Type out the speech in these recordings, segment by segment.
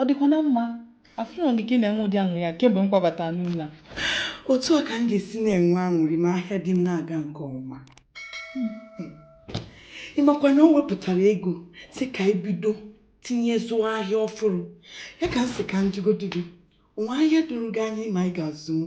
Ọ dịkwa na mma. Afụrọ m gị ka ị na-enwe ụdị aṅụrị a kemgbe m kwabatara n'ụlọ a. Otu a ka m ga-esi na-enwe aṅụrị ma ahịa di m na-aga nke ọma. Ị makwa na o wepụtara ego sị ka anyị bido tinye zụọ ahịa ọfụrụ. Ya ka m sị ka m jụgodị gị, o nwee ahịa doro gị anya ị ma anyị ga-azụnwu?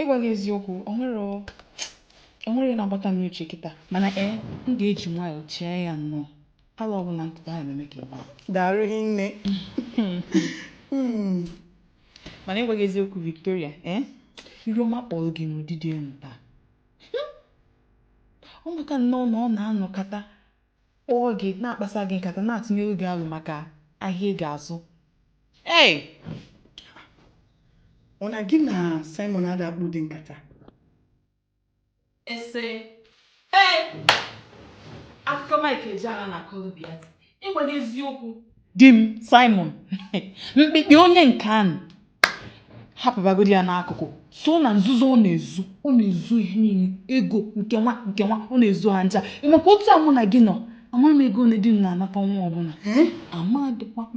ịgwa gị eziokwu o nwere o nwere na-agbata m n'uche kịta mana ee m ga-eji nwayọọ chee ya nnọọ alo ọbụla m tụtara na-eme ka ị ma daalụ hinne Mm. mana ịgwa gị eziokwu Victoria ee iru ọma kpọrọ gị n'ụdị dị enu taa Hmm. ọ maka nnọọ na ọ na-anọkata kpọọ gị, na-akpasa gị nkata, na-atụnyere gị alo maka ahịa ị ga-azụ. Hey! Ọ na gị na Simon ada akpa ụdị nkata? Ese, Hey! Akụkọ Mike Ejeagha na-akọrọ gị ya, ịgwa gị eziokwu. Di m, Simon, mkpịkpị onye nke anụ. hapụbagodi ya n'akụkụ sọ na nzuzo ọ na-ezu ọ na-ezu ihe niile ego nke nwa nke nwa ọ na-ezu ha ncha ị makwa otu a mụ na gị nọ amarọ m ego one di m na-anata ọnwa ọbụla ee amadịkwa m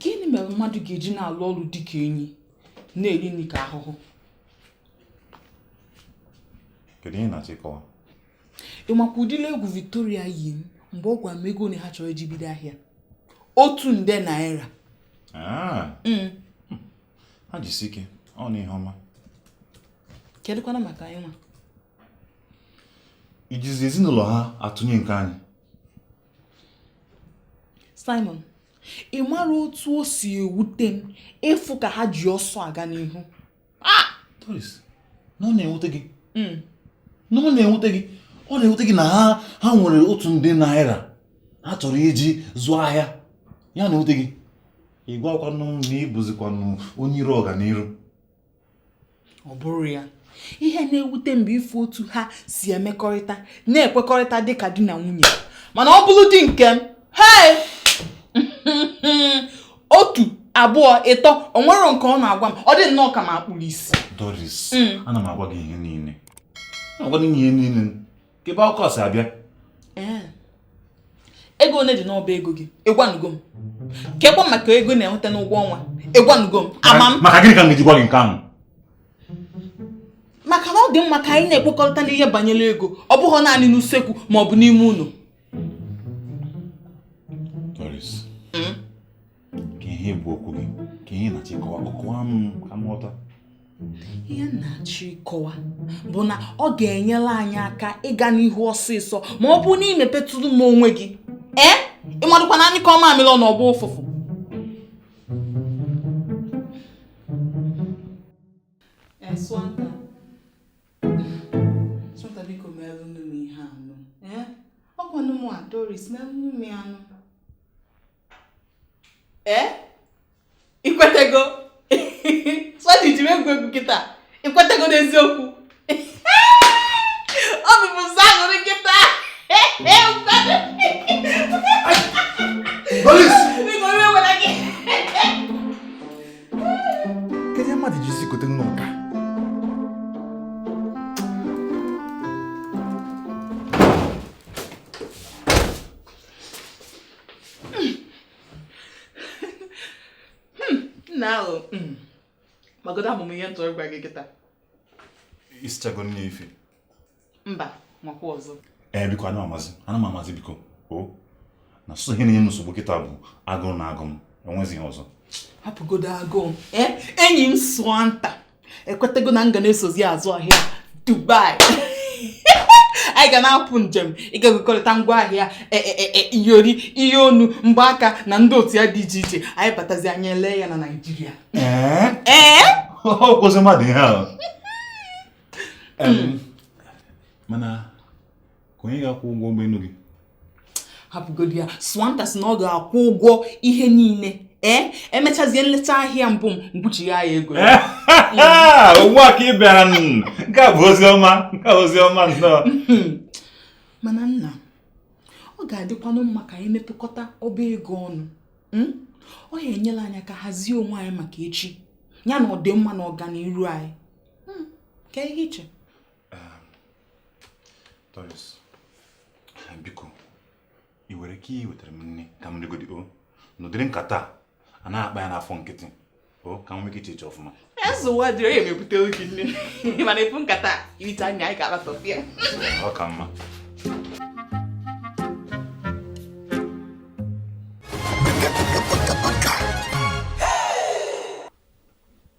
gịnị mere mmadụ ga-eji na-alụ ọrụ dị ka enyi na-eri nri ka ahụhụ kedu ihe ị na-achọ ịkọwa ị makwa ụdịrị egwu Victoria yi m mgbe ọ gwara m ego one ha chọrọ iji bido ahịa otu nde naira Ah, Mm, ha jisi ike ọ na ihe ọma kedụkwana maka anyị nwa i jizi ezinụlọ ha atụnye nke anyị Simon ị mara otu o si ewute m ịfụ ka ha ji ọsọ aga n'ihu ah! Doris na ọ na-ewute gị hmm. na ọ na-ewute gị ọ na-ewute gị na ha ha nwere otu nde naira ha chọrọ iji zụọ ahịa ya na-ewute gị ị gwakwanụ m na ị bụzikwanụ onye iro ọganiru ọ bụrọ ya ihe na-ewute m bụ ịfụ otu ha si emekọrịta na-ekwekọrịta dị ka di na nwunye mana ọ bụrụ di nke m hei otu abụọ ịtọ o nwerọ nke ọ na-agwa m ọ dị nnọọ ka m akpụrụ isi Doris hmm. ana m agwa gị ihe niile agwa gị ihe niile kebe okwu a si abịa ee ego one dị n'ọba ego gị ịgwanugo m kekwa maka ego ị na-enweta n'ụgwọ ọnwa ịgwanugo m ama m maka gịnị ka m ga-eji gwa gị nke ahụ maka na ọ dị mma ka anyị na-ekwukọrịta n'ihe banyere ego ọ bụghị naanị n'usekwu ma ọ bụ n'ime ụlọ ke ihe bụ okwu gị ke ihe ị na-achọ ịkọwa kọwa m ka m ghọta ihe m na-achọ ịkọwa bụ na ọ ga-enyere anyị aka ịga n'ihu ọsịsọ ma ọ bụrụ na ị mepetụrụ m onwe gị ee ịmadụkwa na a nyụkọọ mamịrị ọnụ ọ gbaa ụfụfụ Ee, Swanta. Swanta, biko meelụnụ m ihe a nụ. Ee? Ọ kwanụ mụ a Doris meelụnụ m ya nụ. ee ikwetego Swanta i ji egwu egwu kịta ikwetego n'eziokwu ọ bụbụ sọ aṅụrị kịta kedu ihe mmadụ ji isi kote nnọọ ka nna ahụ hmm, magodo amụma ihe m chọrọ ịgwa gị kịta isichago nni efifie mba makwa ọzọ ee eh, biko ana amazi ana m amazi biko o oh, na sọsọ ihe na-enye m nsogbu kịta bụ agụụ na-agụ m enwezi ihe ọzọ hapụgodo agụụ eh, enyi m Swanta ekwetego na m ga na-esozi ya azụ ahịa Dubai anyị ga na-apụ njem ịga gokọrịta ngwa ahịa e, e, e, iyori ihe onu mgbaaka na ndị otu ya dị iche iche anyị batazi anyị elee ya na Naịjirịa ee kwụsị mmadụ ihe ahụ mana ke onye ga-akwụ ụgwọ ụgbọelu gị hapụgodi ya swanta sị na ọ ga-akwụ ụgwọ ihe niile ee emechazie nleta ahịa mbụ m kwụchigha ya ego ugbu a ka ị bịara nke a bụ ozi ọma nke a ozi ọma nnọọ mana nna ọ ga-adịkwanụ mma ka anyị mepụkọta ọba ego ọnụ hmm? ọ ya-enyela anyị aka hazie onwe anyị maka echi ya na ọdịmma na ọganiru anyị hmm, ke ihe i che Doris, biko ị nwere ike iwetara m nni ka m rigodi o n'ụdịrị nkata a ana akpa ya n'afọ nkịtị o ka m nwee ike chee echiche ọfụma ezuwa dị onye mebute oge nni mana efu nkata irite anya anyị ga-ala sọfia ọ ka mma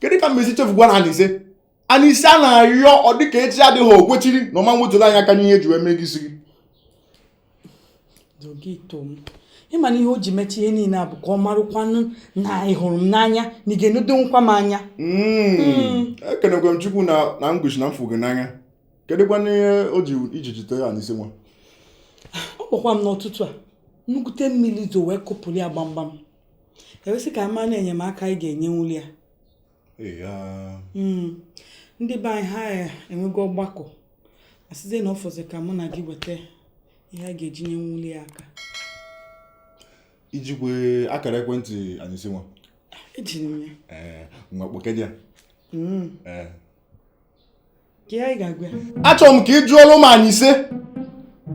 kedu ka m mezi chefu gwa na anise anise a na-ayọ ọ dịka echi adịghị o kwesiri na ọ ma nwetụrụ anya aka n'ihe e ji wee mee gị isi gị ị ma na ihe o ji mecha ihe niile a bụ ka ọ marakwanụ na ị hụrụ m n'anya na ị ga-enedokwa m anya hmm. Hmm. ekenekwe m chukwu na ngwuchi na m fụ gị n'anya kedụkwanụ ihe o ji iji jite anise nwa ọ kpọkwa m n'ụtụtụ a nnukwute mmiri zo wee kụpụrụ ya gbamgbam e wee sị ka a ma na enyemaka anyị ga-enyenwuli ya hmm. ndị be anyị ha eh, enwego ọgbakọ a sịzie na ọ fọzi ka mụ na gị weta ihe a ga-eji nye nwuli ya aka i jikwe akara ekwentị anise nwa ejiri m ya eh, ngwa kpọkene ya hmm. eh. achọrọ m ka ị jụọlụ m anise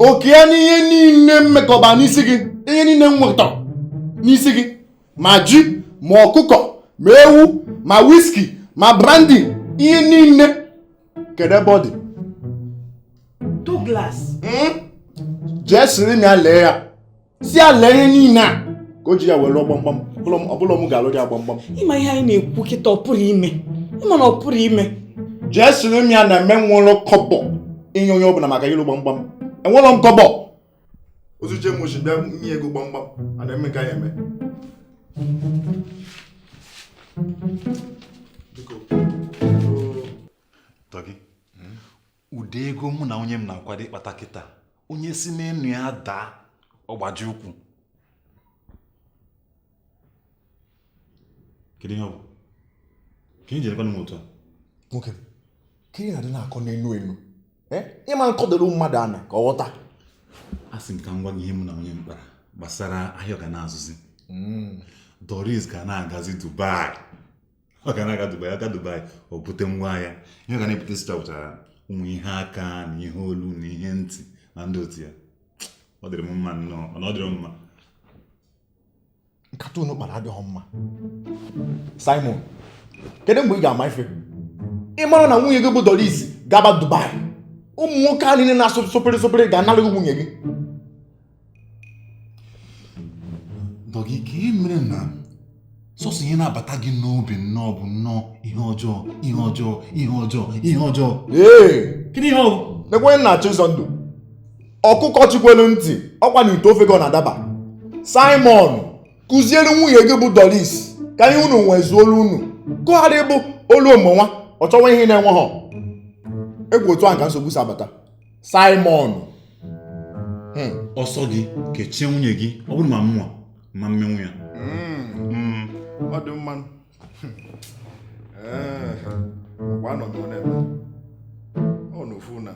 oke ya n'ihe niile m mekọba n'isi gị ihe niile m wetara n'isi gị ma ji ma ọkụkọ ma ewu ma wiski ma brandi ihe niile kedu ebe ọ dị Douglas hmm? jee siri m ya lee ya si ya lee ihe niile a ka o ji ya were lụọ gbamgbam ọ bụrọ m ga-alụ ya gbamgbam ị ma ihe anyị na-ekwu kịta ọ pụrụ ime ị ma na ọ pụrụ ime jee siri m ya na m enwerọ kọbọ inye onye ọbụla maka ịlụ gbamgbam enwerọ m kọbọ o zuchaa m oshi bịa nye ego gbamgbam a na-eme ka ya eme ụdị ego mụ na nwunye m na-akwado ịkpata kịta onye si n'enu ya daa ọ gbajie ụkwụ kedu ihe ọ bụ ka ị jere m otu a nwoke ka ị na-adị na-akọ n'enu enu eh? ị ma akọdoro mmadụ ana ka ọ ghọta asị m ka m gwa gị ihe mụ na nwunye m kpara gbasara ahịa ọ ga na-azụzi hmm. Doris ga na-agazi Dubai ọ ga na-aga Dubai ọ gaa Dubai o bute ngwa ahịa ihe ọ ga na-ebute sita pụtara ụmụ ihe aka na ihe olu na ihe ntị na ndị otu ya ọ dịrị m mma nnọọ mana ọ dịrọ m mma nkata unu kpara adịghị mma Simon kedu mgbe ị ga-ama ife ị mara na nwunye gị bụ Doris gaba Dubai ụmụ nwoke a niile na-asụ supri supri ga-anara gị nwunye gị Dọgị kee ihe mere na sọsọ ihe na-abata gị n'obi nnọọ bụ nnọọ ihe ọjọọ ihe ọjọọ ihe ọjọọ ihe ọjọọ ee kedu ihe ọ bụ nekwa m na-achọ ịzọ ndụ ọkụkọ chikwelu ntị ọ kwa n'ite ofe ka ọ na-adaba simon kụziere nwunye gị bụ doris ka ihe unu nwe zuolu unu gụgharị bụ olu omonwa ọ chọwa ihe na-enwe ha egwu otu ahụ ka nsogbu si abata Simon hmm. ọ sọ gị kechie nwunye gị ọ bụrụ ma mụnwa ma mmenwu ya hmm. Hmm. ọ dị mma eh, ngwa nọdụ n'ebe ọ n'ofu na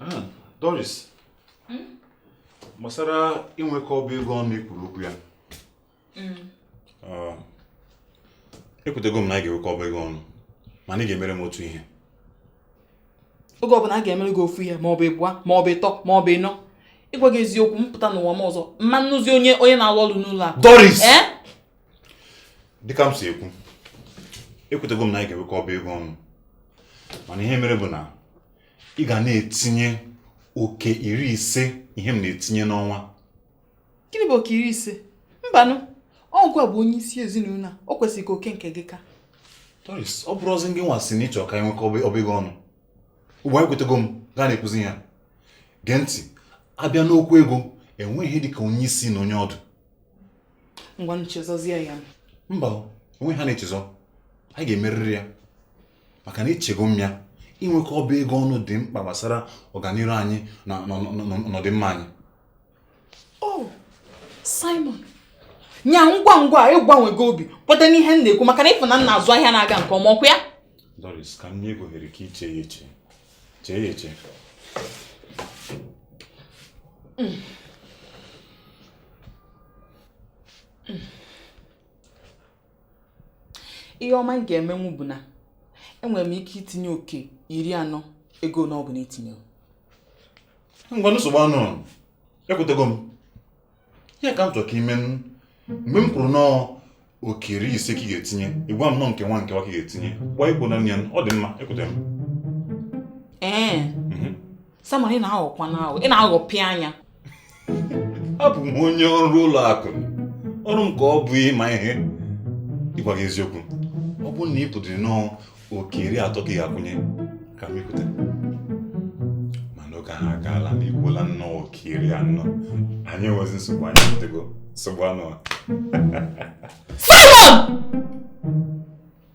Ah, Doris, hmm? gbasara inwekọ ọba ego ọnụ i kwuru okwu ya hmm. ah, ekwetego m na anyị ga-enwekọ ọba ego ọnụ mana ị ga-emere m otu ihe oge ọbụla a ga-emere gị ofu ihe ma ọ bụ ịbụa ma ọ bụ ịtọ ma ọ bụ ịnọ ịgwa gị eziokwu m pụta n'ụwa m ọzọ m ma anụzi onye na-alụ ọrụ n'ụlọ akụ Doris eh? dịka m si ekwu ekwetego m na anyị ga-enwekọ ọba ego ọnụ mana ihe mere bụ na ị ga na-etinye oke iri ise ihe m na-etinye n'ọnwa gịnị bụ oke iri ise mbanụ ọ gịnwa bụ onye isi ezinụlọ a o kwesịrị ka oke nke gị ka Doris ọ bụrọzi gị nwa sị na ị chọ ka anyị nwekọ ọba ego ọnụ ugbu a ekwetego m gaa na-ekwuzi ya gee ntị a bịa n'okwu ego enweghị ihe dị ka onye isi na onye ọdụ ngwanụ chezọzie ya mba enweghị ihe a na-echezọ anyị ga-emerịrị ya maka na echego m ya inwekọ ọba ego ọnụ dị mkpa gbasara ọganihu anyị na ọdịmma anyị oh, Simon nya ngwa ngwa ị gbanwego obi kweta n'ihe m na-ekwu maka na ị fụ na m na-azụ ahịa na-aga nke ọma ọkwa ya Doris ka m nye gị ohere ka i chee ya eche chee ya eche mm. Mm. ihe m ma m ga-emenwu bụ na enwere m ike itinye oke iri anọ ego ọbụla i tinye ngwanụ nsogbu anọọ ekwetego m ihe a ka m chọrọ ka i mee mgbe m kwuru na ọ oke iri ise ka ị ga-etinye ị gwa m na ọ nke nwa nke nwa ka ị ga-etinye gbaa ikwu na ya ọ dị mma ekwete m ee mhm. Simon ị na-aghọkwanụ aghọ ị na-aghọpịa anya abụ m onye ọrụ ụlọ akụ ọrụ m ka ọ bụ ịma ihe ịgwa gị eziokwu ọ bụrụ na i kwudoro na ọ oke iri atọ ka ị ga-akwụnye ka m ekwete mana oge ahụ agaala na i kwuola na ọ oke iri anọ anyị enwezi nsogbu anyị ekwetego nsogbu anọọ ya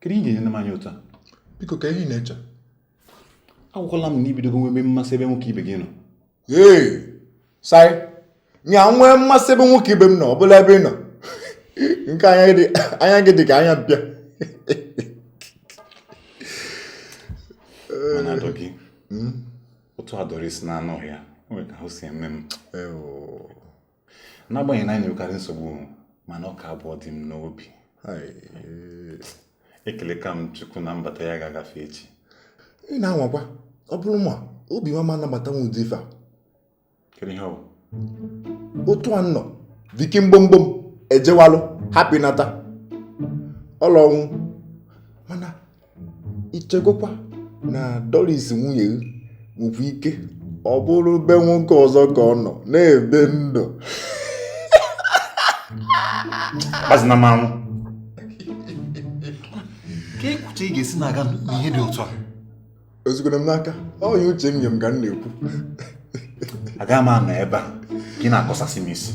kedu ihe i ji ene m anya otu a biko ka ihe ị na-eche agwakwala m na ibidogo nwebe mmasị ebe nwoke ibe gị nọ ee sai nya nwee mmasị ebe nwoke ibe m nọ ọ bụla ebe ị nọ nke anya gị dị ka anya mpịa mana adọ gị hmm? otu a Doris na-anọghị ya nwere ka ahụ si eme m n'agbanyeghị na anyị na-enwekarị nsogbu mana ọ ka bụ ọdị m n'obi ekelekwa m chukwu na mbata ya agaghị agafe echi ị na-anwakwa ọ bụrụ mụ obi m ama anabatanwu ụdị ife a kedu ihe ọ bụ otu a nnọọ Vicky mgbomgbom ejewalụ hapụ nata ọlọnwụ mana ichegokwa na Doris nwunye gị nwekwa ike ọ bụrụ be nwoke ọzọ ka ọ nọ na-ebi ndụ azina m anwụ kee ka uche gị ga-esi na-aga n'ihe dị otu a ezukwere m n'aka ọ ihe uche m nye m ka m na-ekwu agaghị m anọ ebe a gị na-akọsasị m isi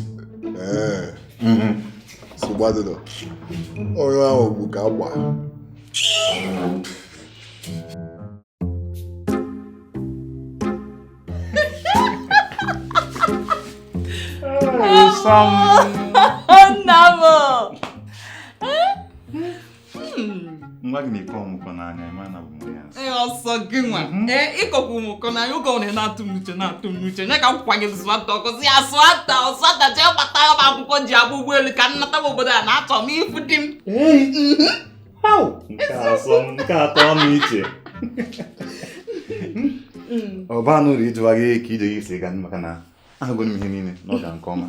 ee Mhm. nsogbu adịrọ onye ahụ bụ ka agba Nna m! nwa gị na-ekwe ọmụkọ n'anya ị ma na ọ bụ ya ee ọ sọ gị nwa mhm. ee ịkọkwa ụmụkọ n'anya oge ọ na-atụ m uche na-atụ m uche nye ka m kwa gị zụata ọkụzi ya sụata ọsụata jee gbata ya bụ akwụkwọ e ji agba ụgbọelu ka m nata obodo a na achọ m ịfụ di m nke atọ ọnụ iche ọ banụ uru ịjụwa gị ka ije gị si ga maka na ahụgoro m ihe niile na ọ ga nke ọma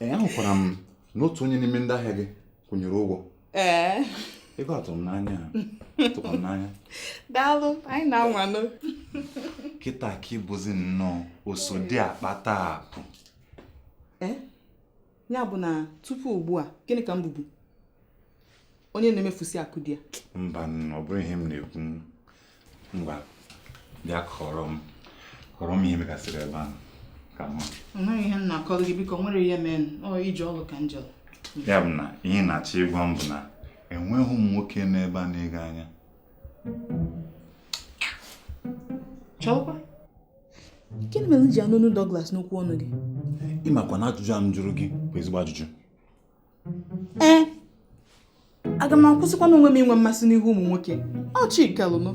ee ahụkwara m na otu onye n'ime ndị ahịa gị kwụnyere ụgwọ ee ego tụrụ m n'anya tụkwara m n'anya daalụ anyị na-anwanụ kịta ka ị bụzi nnọọ oso di akpata akụ ee ya bụ na tupu ugbu a gịnị ka m bụbu onye na-emefusi akụ di ya mba ọ bụrọ ihe m na-ekwu ngwa bịa kọrọ m kọrọ m ihe megasịrị ebe ahụ ka m ma o nweghị ihe m na-akọrọ gị biko o nwerọ ihe mere ije ọrụ ka m je ya bụ na ihe ị na-achọ ịgwa m bụ na enweghị ụmụ nwoke n'ebe a na-ene gị anya chọkwa gịnị mere m ji anụ onu Douglas n'okwu ọnụ gị ị makwa na ajụjụ a m jụrụ gị bụ ezigbo ajụjụ ee eh, aga m akwụsịkwanụ onwe m inwe mmasị n'ihu ụmụ nwoke ọ chi kelụnụ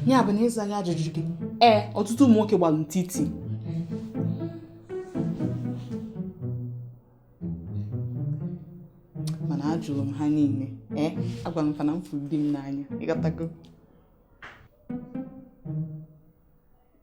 ya bụ na ịza ajụjụ gị ee eh, ọtụtụ ụmụ nwoke gbalụ ntiti mana ajụrụ m ha niile ee eh, agwara m fa na m fụrụ di m n'anya ị ghọtago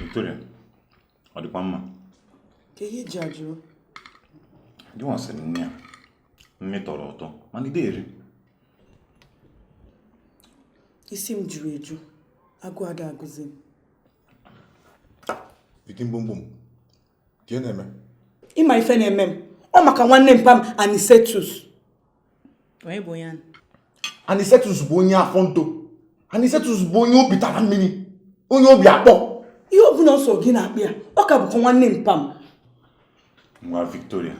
Victoria, ọ dịkwa mma? Kee ihe i ji ajụrụ? Gị nwa siri nni a, nni tọrọ ụtọ, mana i de eri. Isi m juru eju, agụ ada agụzi m. Vicky mgbomgbom. ka ị na-eme ị ma ife na-eme m ọ maka nwanne mpa m anisetus onye bụ onye ahụ? anisetus bụ onye afọ nto anisetus bụ onye obi tara mmiri onye obi akpọ ihe ọ bụla ọ sọ gị na-akpọ ya ọ ka bụkwa nwanne mpa m ngwa victoria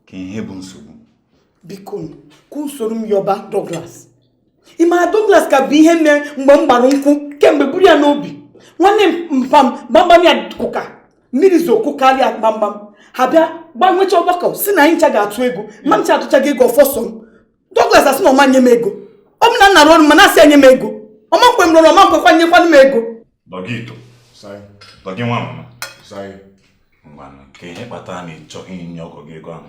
kee ihe bụ nsogbu biko ka i soro m yọba douglas ị mara Douglas ka bu ihe mere mgbe m gbara nkwụ kemgbe buru ya n'obi nwanne mpa m gbamgbam ya kụka mmiri zoo kụkarịa gbamgbam ha bịa gaa nwecha ọgbakọ si na anyị ncha ga-atụ ego ma ncha atụchago ego ọ fọ sọ m Douglas asị na ọ ma-enye m ego ọ bụ na m na-arụ ọrụ m ma na-asị ya nye m ego ọ ma-ekwe m rụọ ọrụ ọ ma-ekwekwa nyekwanụ m ego Dougito Dougie nwa mama ngwanụ kee ihe kpatara na ị chọghị inye ọgọ gị ego ahụ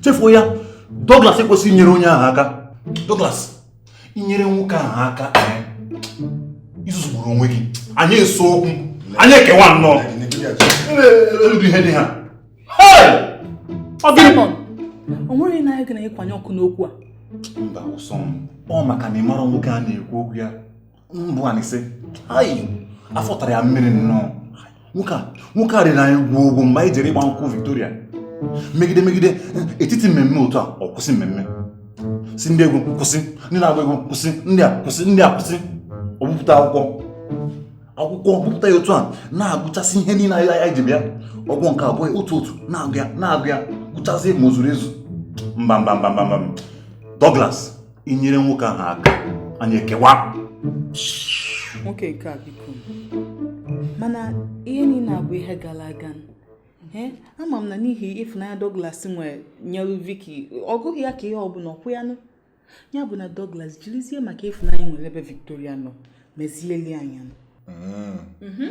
chefuo ya Douglas ekwesịghị inyere onye ahụ aka Douglas i nyere nwoke ahụ aka eh, i zuzugburu onwe gị anyị esee okwu anyị ekewa nnọọ eludu ihe dị ha o nwere na anyị ga na-ekwanye ọkụ n'okwu a mba ụsọ m ọ maka na ị mara nwoke a na-ekwu okwu ya bụ Anise afọ tara ya mmiri nnọọ nwoke a nwoke a riri anyị ngwọngwọ mgbe anyị jere ịgba nkwụ Victoria megide megide etiti mmemme otu a ọ kwụsị mmemme sị ndị egwu kwụsị ndị na-agba egwu kwụsị ndị a kwụsị ndị a kwụsị o bupụta akwụkwọ akwụkwọ bupụta ya otu a na-agụchasị ihe niile anyị anyị ji bịa ọ gụọ nke abụọ otu otu na-agụ ya na-agụ ya gụchasị ma o zuru ezu mba mba mba mba mba Douglas i nyere nwoke ahụ aka anyị ekewa nwoke nke a biko mana ihe niile a bụ ihe gara aga ama m na n'ihi ịfụnanya Douglas nwere nyelu Vicky ọ gụghị ya ka ihe ọbụla ọ kwa ya nụ ya bụ na Douglas jirizie maka ịfụnanya o nwere ebe Victoria nọ mezielụ anyị ya nụ hmm. mhm.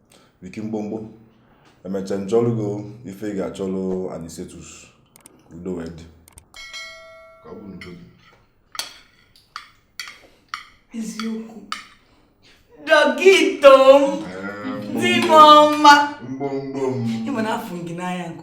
viki mgbomgbo emecha nchọlụgo ife ị ga-achọlụ anisetus udo wee dị ka ọ bụ n'udo gị eziokwu dọkịta m di m ọma mgbomgbo m ịma na afụ m gị n'anya nke